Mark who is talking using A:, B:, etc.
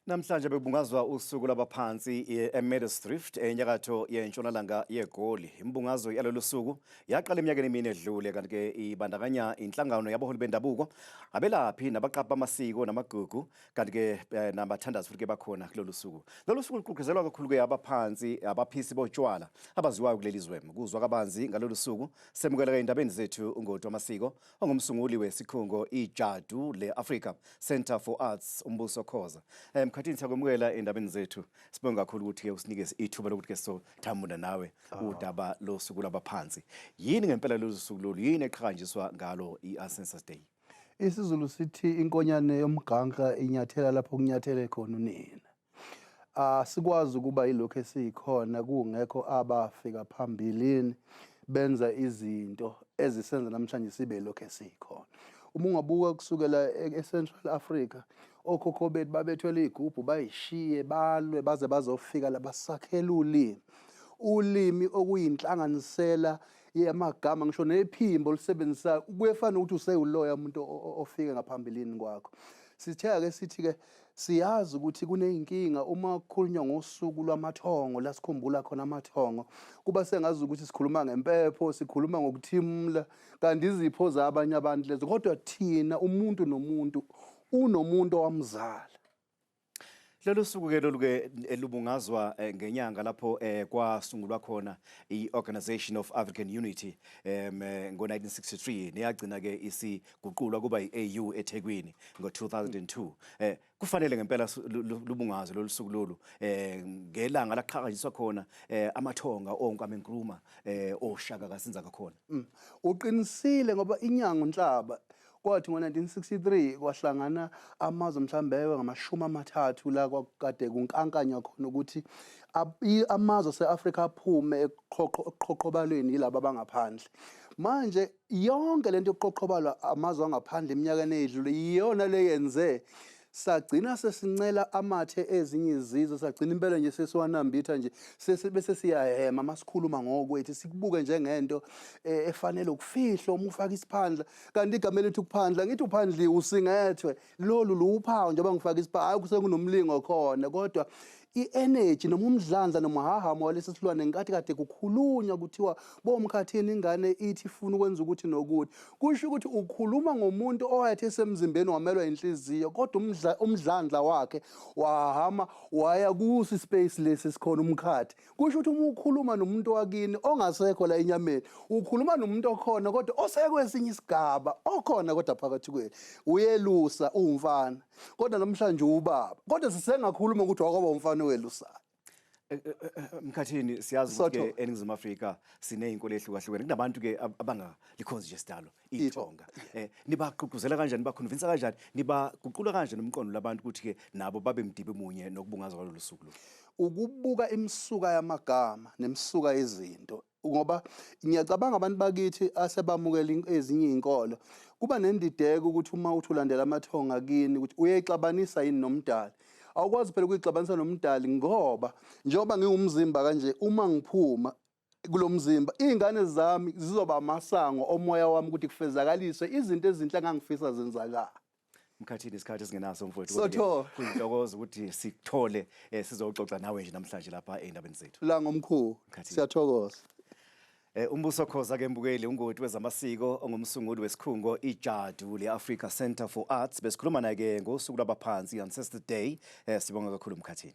A: Namhlanje bekubungazwa usuku lwabaphansi eMeadowsdrift enyakatho yentshonalanga yeGoli. Imbungazo yalolu suku yaqala eminyakeni emine edlule kanti-ke ibandakanya inhlangano yabaholi bendabuko, abelaphi nabaqaphi bamasiko namagugu kanti-ke eh, nabathandazi futhi-ke bakhona kulolu suku. Lolu suku luququzelwa kakhulu-ke abaphansi abaphisi botshwala abaziwayo kuleli zwe. Kuzwa kabanzi ngalolu suku semukeleka endabeni zethu ungoti wamasiko ongumsunguli wesikhungo iJadu le-Africa Centre for Arts uMbuso Khoza. Eh, Mkhathini siyakwemukela endabeni zethu. Sibonge kakhulu ukuthi-ke usinike ithuba lokuthi-ke sothamunda nawe ah. udaba losuku lwabaphansi. Yini ngempela lolu suku lolu? Yini eqhakanjiswa ngalo i-Ancestors Day? isiZulu
B: sithi inkonyane yomganka inyathela lapho kunyathele khona unina asikwazi ukuba yilokho esiyikhona kungekho abafika phambilini benza izinto ezisenza namhlanje sibe lokho esiyikhona uma ungabuka kusukela e-, e-Central Africa okhokho bethu babethwele igubhu bayishiye balwe baze bazofika la basakhela ulimi ulimi okuyinhlanganisela yamagama ngisho nephimbo olusebenzisayo kuyefana ukuthi usewuloya umuntu ofike ngaphambilini kwakho sithe ake sithi-ke Siyazi ukuthi kuney'nkinga uma kukhulunywa ngosuku lwamathongo la sikhumbula khona amathongo kuba sengazi ukuthi sikhuluma ngempepho sikhuluma ngokuthimula kanti izipho zabanye abantu lezo kodwa thina umuntu nomuntu unomuntu owamzala
A: lolu suku ke lolu ke lubungazwa eh, ngenyanga lapho eh, kwasungulwa khona i-Organization of African Unity um ngo-1963 neyagcina ke isi guqulwa kuba yi-AU eThekwini ngo-2002 eh kufanele ngempela lubungazo lolusuku lolu eh ngelanga laqhakanyiswa khona eh amathonga onkwame Nkrumah eh oshaka kasinza kakhona mm. uqinisile
B: ngoba inyango nhlaba kwathi ngo-1963 kwahlangana amazwe mhlawumbe ewe ngamashumi amathathu la kwakade kunkankanywa khona ukuthi amazwe ase-afrika aphume ekuqhoqhobalweni yilaba abangaphandle manje Yonke lento yokuqoqobalwa amazwe angaphandle eminyakeni eyedlule iyona leyenze sagcina sesincela amathe ezinye izizwe sagcina impela nje sesiwanambitha nje bese siyahema masikhuluma ngokwethu sikubuke njengento eh, efanele ukufihla uma ufaka isiphandla kanti igama elithi ukuphandla ngithi uphandliwe usingethwe lolu luwuphawu njengoba ngifake isipha hayi kusenginomlingo khona kodwa i-energy noma umdlandla nomhahamo walesi silwane ngenkathi kade kukhulunywa kuthiwa bomkhathini ingane ithi ifuna ukwenza ukuthi nokuthi kusho ukuthi ukhuluma ngomuntu owayethi esemzimbeni wamelwa inhliziyo kodwa umdlandla wakhe wahama waya kusi space lesi sikhona umkhathi Kusho ukuthi uma ukhuluma nomuntu wakini ongasekho la enyameni, ukhuluma nomuntu okhona kodwa osekwesinye isigaba, okhona kodwa phakathi kwenu. Uyelusa uwumfana. Kodwa namhlanje uwubaba. Kodwa sisengakhuluma ukuthi wakwaba umfana owelusayo. Eh, eh, eh, Mkhathini
A: siyazi ukuthi eNingizimu Afrika sinezinkolo ezihlukahlukene. Kunabantu ke abangalikhonzi nje sidalo. ithonga eh nibaqhuquzela kanjani bakhonvinsa kanjani nibaguqula kanje nomqondo labantu ukuthi ke nabo babe mdibe munye nokubungaza kwalolu suku lo ukubuka
B: imisuka yamagama nemisuka yezinto ngoba ngiyacabanga abantu bakithi asebamukela ezinye izinkolo kuba nendideko ukuthi uma uthi ulandela amathonga kini ukuthi uyayixabanisa yini nomdali awukwazi phela ukuyixabanisa nomdali ngoba njengoba ngiwumzimba kanje uma ngiphuma kulo mzimba iy'ngane zami zizoba amasango omoya wami ukuthi kufezakaliswe izinto ezinhle engangifisa zenzakala mkhathini
A: isikhathi esingenaso mfowethu Kodwa-ke Sotho. kuyintokozo ukuthi sikuthole eh, sizoxoxa nawe nje namhlanje lapha ey'ndabeni zethu la ngomkhulu Mkhathini.
B: siyathokoza Eh,
A: umbuso khoza ke mbukeli ungoti wezamasiko ongumsunguli wesikhungo ijadu le-africa center for arts besikhuluma naye ke ngosuku lwabaphansi ancestor day eh, sibonga kakhulu mkhathini